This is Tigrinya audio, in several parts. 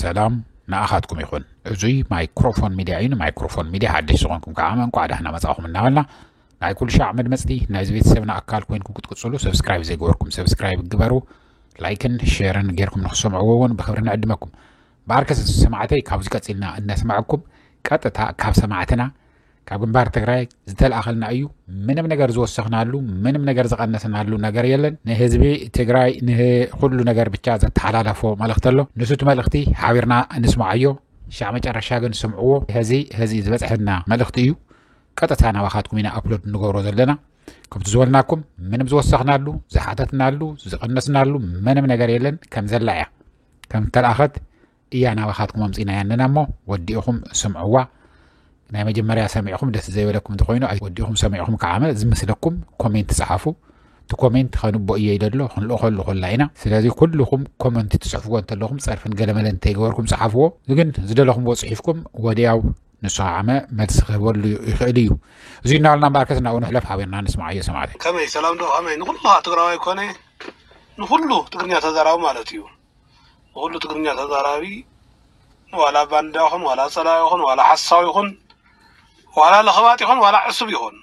ሰላም ንኣኻትኩም ይኹን እዙይ ማይክሮፎን ሚድያ እዩ ንማይክሮፎን ሚድያ ሓድሽ ዝኾንኩም ከዓ እንኳዕ ዳሕና መፃኹም እናበልና ናይ ኩሉ ሻዕ መድመፅቲ ናይዚ ቤተሰብና ኣካል ኮይንኩም ክትቅፅሉ ሰብስክራይብ ዘይገበርኩም ሰብስክራይብ ግበሩ ላይክን ሼርን ጌርኩም ንክሰምዕዎ እውን ብክብሪ ንዕድመኩም ብኣርከስ ሰማዕተይ ካብዚ ቀፂልና እነስማዕኩም ቀጥታ ካብ ሰማዕትና ካብ ግንባር ትግራይ ዝተልኣኸልና እዩ ምንም ነገር ዝወሰኽናሉ ምንም ነገር ዝቐነስናሉ ነገር የለን ንህዝቢ ትግራይ ንኩሉ ነገር ብቻ ዘተሓላለፎ መልእኽቲ ኣሎ ንሱቲ መልእኽቲ ሓቢርና ንስማዓዮ ሻዕ መጨረሻ ግን ስምዕዎ ህዚ ህዚ ዝበፅሐና መልእኽቲ እዩ ቀጥታ ናባኻትኩም ኢና ኣፕሎድ ንገብሮ ዘለና ከምቲ ዝበልናኩም ምንም ዝወሰኽናሉ ዝሓተትናሉ ዝቐነስናሉ ምንም ነገር የለን ከም ዘላ እያ ከም ተልኣኸት እያ ናባኻትኩም ኣምፂናያ ኣለና እሞ ወዲእኹም ስምዕዋ ናይ መጀመርያ ሰሚዕኹም ደስ ዘይበለኩም እንተኮይኑ ወዲእኹም ሰሚዕኹም ከዓመ ዝምስለኩም ኮሜንት ፀሓፉ እቲ ኮሜንት ከንቦ እየ ይደሎ ክንልእኸሉ ኮላ ኢና ስለዚ ኩልኹም ኮመንት ትፅሕፍዎ እንተለኹም ፀርፍን ገለመለ እንተይገበርኩም ፀሓፍዎ ግን ዝደለኹምዎ ፅሒፍኩም ወዲያው ንሱ ዓመ መልሲ ክህበሉ ይኽእል እዩ እዚ እናበልና እምበኣርከስ ናብኡ ንሕለፍ ሓቢርና ንስማዓዮ ሰማዕተይ ከመይ ሰላም ዶ ከመይ ንኩሉ ትግራዋይ ኮነ ንኩሉ ትግርኛ ተዛራቢ ማለት እዩ ንኹሉ ትግርኛ ተዛራቢ ዋላ ባንዳ ይኹን ዋላ ፀላኢ ይኹን ዋላ ሓሳዊ ይኹን ዋላ ለኽባጥ ይኹን ዋላ ዕሱብ ይኹን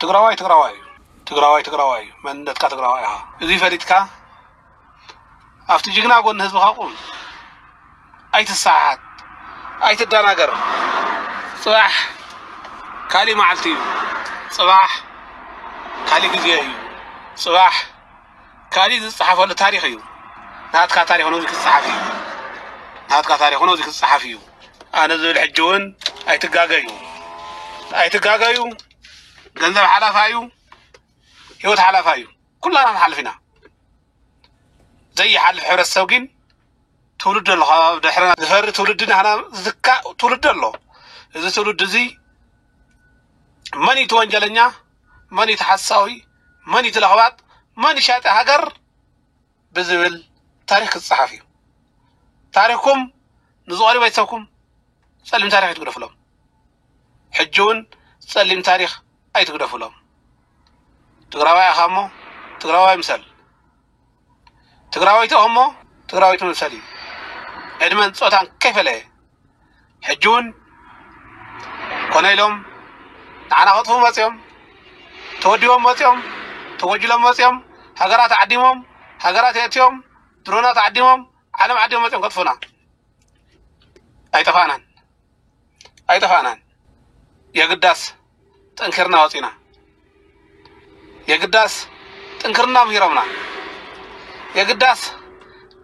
ትግራዋይ ትግራዋይ እዩ ትግራዋይ ትግራዋይ እዩ መንነትካ ትግራዋይ ኢኻ እዚ ፈሊጥካ ኣብቲ ጅግና ጎኒ ህዝብኻ ቁም ኣይትሰሓሓት ኣይትደናገር ፅባሕ ካሊእ መዓልቲ እዩ ፅባሕ ካሊእ ግዜ እዩ ፅባሕ ካሊእ ዝፀሓፈሉ ታሪክ እዩ ናትካ ታሪክ እውን ክፀሓፍ እዩ ናትካ ታሪክ እውን ክፀሓፍ እዩ ኣነ ዝብል ሕጂ እውን ኣይትጋገዩ ኣይትጋገዩ ገንዘብ ሓላፋ እዩ ህይወት ሓላፋ እዩ ኩላና ንሓልፍ ኢና ዘይሓልፍ ሕብረተሰብ ግን ትውልድ ኣሎ ካብ ድሕርና ዝፈሪ ትውልዲ ናህና ዝትካእ ትውልዲ ኣሎ እዚ ትውልዲ እዚ መን እዩ እቲ ወንጀለኛ መን እዩ እቲ ሓሳዊ መን እዩ ተለኽባጥ መን እዩ ሻጢ ሃገር ብዝብል ታሪኽ ክጸሓፍ እዩ። ታሪኽኩም ንዝቐርዩ ቤተሰብኩም ጸሊም ታሪኽ ኣይትግደፉሎም። ሕጂ እውን ጸሊም ታሪኽ ኣይትግደፉሎም። ትግራዋይ ኢኻ እሞ ትግራዋይ ምሰል። ትግራወይቲ እኹም እሞ ትግራወይቲ ምምሰል እዩ ዕድመን ፆታን ከይፈለየ ሕጂ እውን ኮነ ኢሎም ንዓና ከጥፉ መፅኦም ተወዲቦም መፅኦም ተጎጅሎም መፅኦም ሃገራት ዓዲሞም ሃገራት የእትዮም ድሮናት ዓዲሞም ዓለም ዓዲሞም መፅኦም ከጥፉና ኣይጠፋእናን ኣይጠፋእናን። የግዳስ ጠንኪርና ወፂና የግዳስ ጥንክርና ምሂሮምና የግዳስ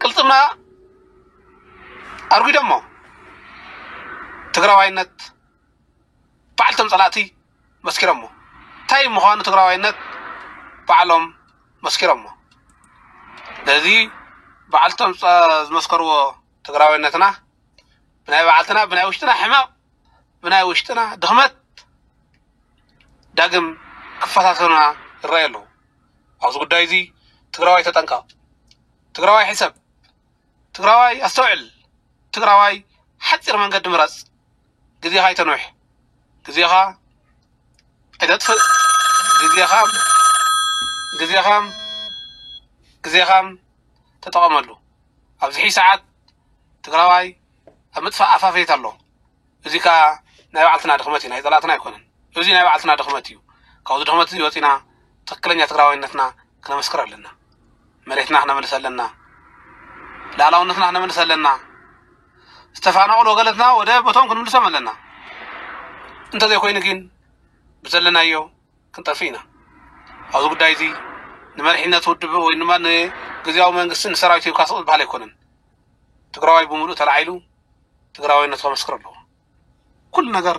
ቅልፅምና ኣርጉደሞ ትግራዋይነት በዓልቶም ፀላእቲ መስኪሮሞ እንታይ ምዃኑ ትግራዋይነት ባዕሎም መስኪሮሞ ስለዚ ባዕልቶም ዝመስከርዎ ትግራዋይነትና ብናይ ባዕልትና ብናይ ውሽጥና ሕማቕ ብናይ ውሽጥና ድኽመት ዳግም ክፈታተኑና ይረኣዩ ኣለዉ ኣብዚ ጉዳይ እዚ ትግራዋይ ተጠንቀቕ ትግራዋይ ሕሰብ ትግራዋይ ኣስተውዕል ትግራዋይ ሓፂር መንገዲ ምረፅ ግዜኻ ኣይተንውሕ ግዜኻ ኣይተጥፍእ ግዜኻ ግዜኻ ግዜኻ ተጠቐመሉ ኣብዚ ሕይ ሰዓት ትግራዋይ ኣብ ምጥፋእ ኣፋፌት ኣሎ እዚ ከዓ ናይ ባዕልትና ድኽመት እዩ ናይ ፀላእትና ኣይኮነን እዚ ናይ ባዕልትና ድኽመት እዩ ካብዚ ድኽመት እዚ ወፂና ትክክለኛ ትግራዋይነትና ክነመስክር ኣለና መሬትና ክነመልስ ኣለና ላዕላውነትና ክነመልስ ኣለና ዝተፋናቀሉ ወገነትና ወደ ቦቶም ክንምልሶም ኣለና እንተዘይኮይኑ ግን ብዘለናዮ ክንጠፍእ ኢና ኣብዚ ጉዳይ እዚ ንመሪሕነት ውድብ ወይ ድማ ንግዝያዊ መንግስቲ ንሰራዊት ሂብካ ስቕ ዝበሃል ኣይኮነን ትግራዋይ ብምሉእ ተላዒሉ ትግራዋይነቱ ከመስክር ኣለዎ ኩሉ ነገር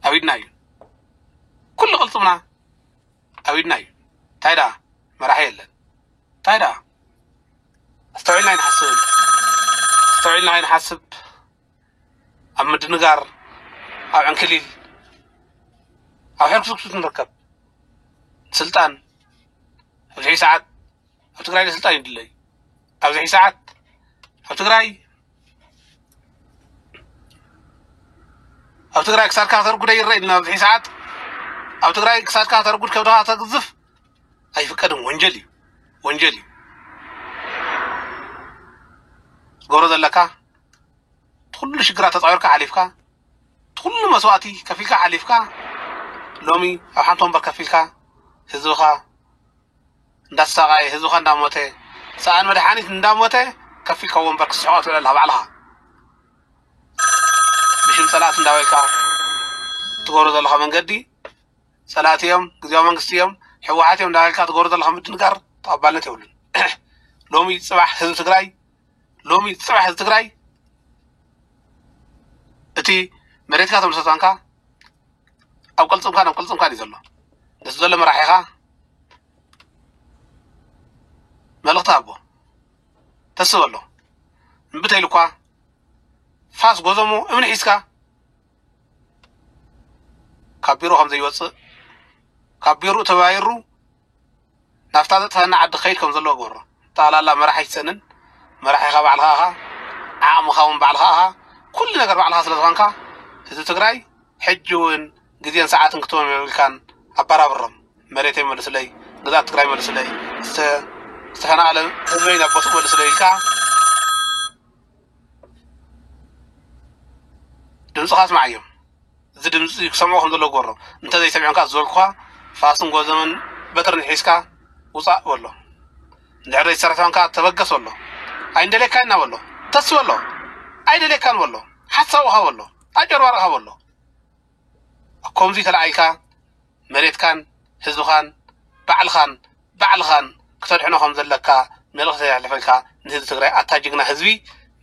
ኣብ ኢድና እዩ ኩሉ ቅልፅምና ኣብ ኢድና እዩ እንታይ ደኣ መራሒ የለን እንታይ ደኣ ኣስተውዒልና ኣይንሓስብን ኣስተውዒልና ኣይንሓስብ ኣብ ምድንጋር ኣብ ዕንክሊል ኣብ ሕርኩስኩስ ንርከብ ስልጣን ኣብዚ ሕጂ ሰዓት ኣብ ትግራይ ስልጣን ይድለ እዩ ኣብዚ ሕጂ ሰዓት ኣብ ትግራይ ኣብ ትግራይ ክሳድካ ከተርጉደ ይረአ ኢልና ኣብዚ ሕጂ ሰዓት ኣብ ትግራይ ክሳድካ ከተርጉድ ከብድኻ ተግዝፍ ኣይፍቀድን ወንጀል እዩ ወንጀል እዩ ትገብሮ ዘለካ ትኩሉ ሽግራት ተጻዊርካ ሓሊፍካ ትኩሉ መስዋእቲ ከፊልካ ሓሊፍካ ሎሚ ኣብ ሓንቲ ወንበር ከፍ ኢልካ ህዝብኻ እንዳተሳቃየ ህዝብኻ እንዳሞተ ሰኣን መድሓኒት እንዳሞተ ከፍ ኢልካ ወንበር ክስሕቆ ትብል ኣለኻ ባዕልኻ ብሽም ጸላእቲ እንዳበልካ ትገብሮ ዘለኻ መንገዲ ጸላእቲ እዮም ግዜያዊ መንግስቲ እዮም ሕወሓት እዮም እንዳበልካ ትገብሮ ዘለኻ ምድንጋር ተቐባልነት የብሉን ሎሚ ጽባሕ ህዝቢ ትግራይ ሎሚ ፅባሕ ህዝቢ ትግራይ እቲ መሬትካ እቶም ሰልጣንካ ኣብ ቅልፅምካን ኣብ ቅልፅምካን እዩ ዘሎ ነዚ ዘሎ መራሒኻ መልእኽቲ ሃቦ ተስብ ኣሎ እምብተይሉ እኳ ፋስ ጎዘሞ እምኒ ሒዝካ ካብ ቢሮ ከም ዘይወፅእ ካብ ቢሮኡ ተባይሩ ናብታ ዘጥፈኣና ዓዲ ክኸይድ ከም ዘለዎ ግበሮ። ጠቕላላ መራሕ ኣይትሰእንን፣ መራሒኻ ባዕልኻ ኢኻ፣ ዓቕምኻ እውን ባዕልኻ ኢኻ፣ ኩሉ ነገር ባዕልኻ ስለ ዝኾንካ ህዝቢ ትግራይ ሕጂ እውን ግዜን ሰዓትን ክትቦም የብልካን፣ ኣባራብሮም። መሬተይ መልሱለይ፣ ግዝኣት ትግራይ መልሱለይ፣ ዝተፈናቐለ ህዝበይ ናብ ቦትኡ መልሱለይ ኢልካ ድምፅኻ ኣስመዓዮም እዚ ድምፂ ክሰምዑ ከም ዘለዎ ግበሮም እንተዘይሰሚዖም ከዓ ዝበልኩኻ ፋስን ጎዘመን በትርን ሒዝካ ውፃእ በሎ እንድሕር ዘይሰርሖም ከዓ ተበገስ በሎ ኣይንደልየካ ኢና በሎ ተስ በሎ ኣይደልየካን በሎ ሓሳብኻ በሎ ኣጨርባርኻ በሎ ከምዚ ተለዓይልካ መሬትካን ህዝብኻን ባዕልኻን ባዕልኻን ክተድሕኖ ከም ዘለካ መልእኽቲ ተሕልፈልካ ንህዝቢ ትግራይ ኣታ ጅግና ህዝቢ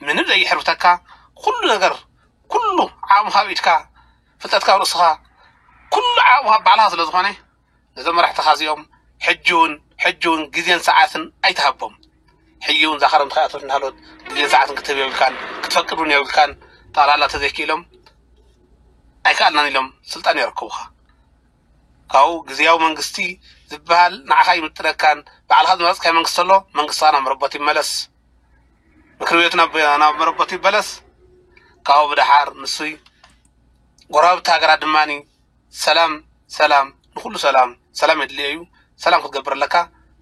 ምንም ዘይሕርብተካ ኩሉ ነገር ኩሉ ዓቕምኻ ኣብ ኢድካ ፍልጠትካ ኣብ ርእስኻ ኩሉ ዓቕምኻ ኣብ ባዕልኻ ስለ ዝኾነ ነዞም መራሕትኻ እዚኦም ሕጂ እውን ሕጂ እውን ግዜን ሰዓትን ኣይትሃቦም ሕጂ እውን እዛ ክረምቲ ከይኣተወት እናሃለወት ግዜን ሰዓትን ክትህብ የብልካን፣ ክትፈቅድ እውን የብልካን። ጠቕላላ ተዘይክኢሎም ኣይከኣልናን ኢሎም ስልጣን የረክቡኻ። ካብኡ ግዝያዊ መንግስቲ ዝበሃል ንዓኻ ኣይምጥነካን፣ ባዕልኻ ዝመረጽካዮ መንግስቲ ተሎ መንግስትኻ ናብ መረበቱ ይመለስ፣ ምክሪ ቤቱ ናብ ናብ መረበቱ ይበለስ። ካብኡ ብደሓር ንሱይ ጎረባብቲ ሃገራት ድማ ሰላም ሰላም ንኩሉ ሰላም ሰላም የድልዮ እዩ ሰላም ክትገብር ኣለካ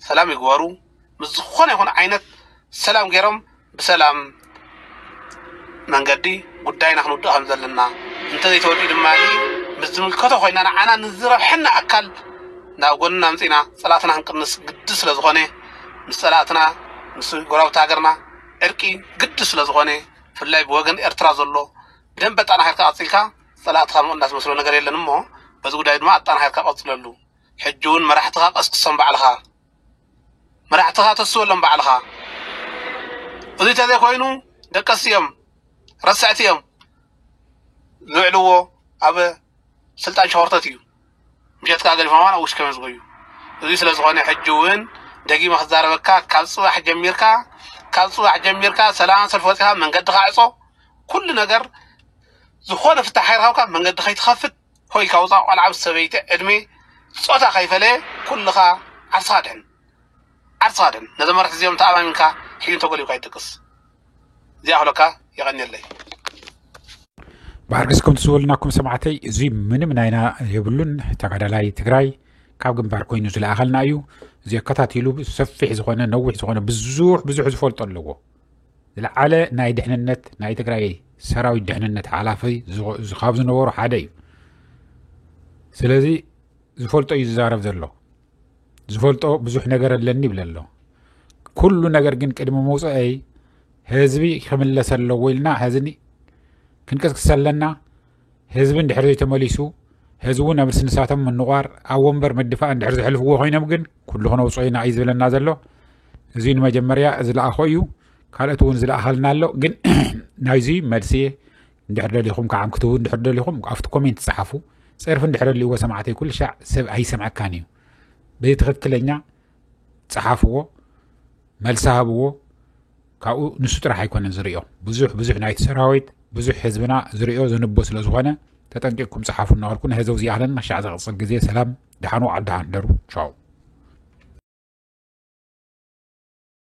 ሰላም ይግበሩ ምስ ዝኾነ ይኹን ዓይነት ሰላም ገይሮም ብሰላም መንገዲ ጉዳይና ክንውድእ ከም ዘለና እንተዘይተወዲኡ ድማ ምስ ዝምልከቶ ኮይና ንዓና ንዝረብሐና ኣካል ናብ ጎንና ምፅና ፀላእትና ክንቅንስ ግዲ ስለ ዝኾነ ምስ ፀላእትና ምስ ጎረብቲ ሃገርና ዕርቂ ግዲ ስለ ዝኾነ ብፍላይ ብወገን ኤርትራ ዘሎ ብደንበ ኣጠናኺርካ ቀፂልካ ፀላእትኻ ምቕናስ ዝመስሎ ነገር የለን እሞ በዚ ጉዳይ ድማ ኣጠናኺርካ ቀፅለሉ። ሕጂ እውን መራሕትኻ ቀስቅሶም ባዕልኻ መራሕትኻ ተስበሎም ባዕልኻ እዙይ ተዘይኮይኑ ደቀስቲ እዮም ረሳዕቲ እዮም ዝውዕልዎ ኣብ ስልጣን ሸኾርተት እዩ። ምሸት ከኣ ገዲፎማ ናብ ውሽከ መዝጎዩ እዙይ ስለ ዝኾነ ሕጂ እውን ደጊመ ክዛረበካ ካብ ጽባሕ ጀሚርካ ካብ ጽባሕ ጀሚርካ ሰላም ሰልፊ ወጺኻ መንገድኻ ዕጾ ኩሉ ነገር ዝኾነ ፍታሕ ከይረኸብካ መንገዲ ከይትኸፍት ኮይካ ውፃእ ቆልዓ ምስ ሰበይቲ ዕድሜ ፆታ ከይፈለየ ኩልኻ ዓርስኻ ድሕን ዓርስኻ ድሕን ነዞም መራሕቲ እዚኦም ተኣማሚንካ ሕዩን ተጎሊብካ ይደቅስ ዚኣኽሎካ የቐንየለይ ብሓርግስኩም ትስወልናኩም ሰማዕተይ እዚ ምንም ናይና የብሉን ተጋዳላይ ትግራይ ካብ ግንባር ኮይኑ ዝለኣኸልና እዩ እዚ ኣከታቲሉ ሰፊሕ ዝኾነ ነዊሕ ዝኾነ ብዙሕ ብዙሕ ዝፈልጦ ኣለዎ ዝለዓለ ናይ ድሕንነት ናይ ትግራይ ሰራዊት ድሕንነት ሓላፊ ካብ ዝነበሩ ሓደ እዩ ስለዚ ዝፈልጦ እዩ ዝዛረብ ዘሎ ዝፈልጦ ብዙሕ ነገር ኣለኒ ይብለ ኣሎ ኩሉ ነገር ግን ቅድሚ ምውፅአይ ህዝቢ ክምለሰ ኣለዎ ኢልና ህዝኒ ክንቅስቅስ ኣለና ህዝቢ እንድሕር ዘይተመሊሱ ህዝቢ እውን ኣብ ስንሳቶም ምንቋር ኣብ ወንበር ምድፋእ እንድሕር ዘሕልፍዎ ኮይኖም ግን ኩሉ ክነውፅኦ ኢና እዩ ዝብለና ዘሎ እዚ ንመጀመርያ ዝለኣኾ እዩ ካልኦት እውን ዝለኣኸልና ኣሎ ግን ናይዚ መልሲ እንድሕር ደሊኹም ከዓም ክትህቡ እንድሕር ደሊኹም ኣብቲ ኮሜንት ጸሓፉ ጸርፊ እንድሕር ልዎ ሰማዕተይ ኩሉ ሻዕ ሰብ ኣይሰምዐካን እዩ በዚ ትኽክለኛ ጸሓፍዎ መልሲ ሃብዎ ካብኡ ንሱ ጥራሕ ኣይኮነን ዝርዮ ብዙሕ ብዙሕ ናይቲ ሰራዊት ብዙሕ ህዝብና ዝርዮ ዝንቦ ስለ ዝኾነ ተጠንቂቕኩም ጸሓፉ እናበልኩ ንህዘው ዝይኣህለና ሻዕ ዘቕፅል ግዜ ሰላም ድሓኑ ዓዲ ሃንደሩ ቻው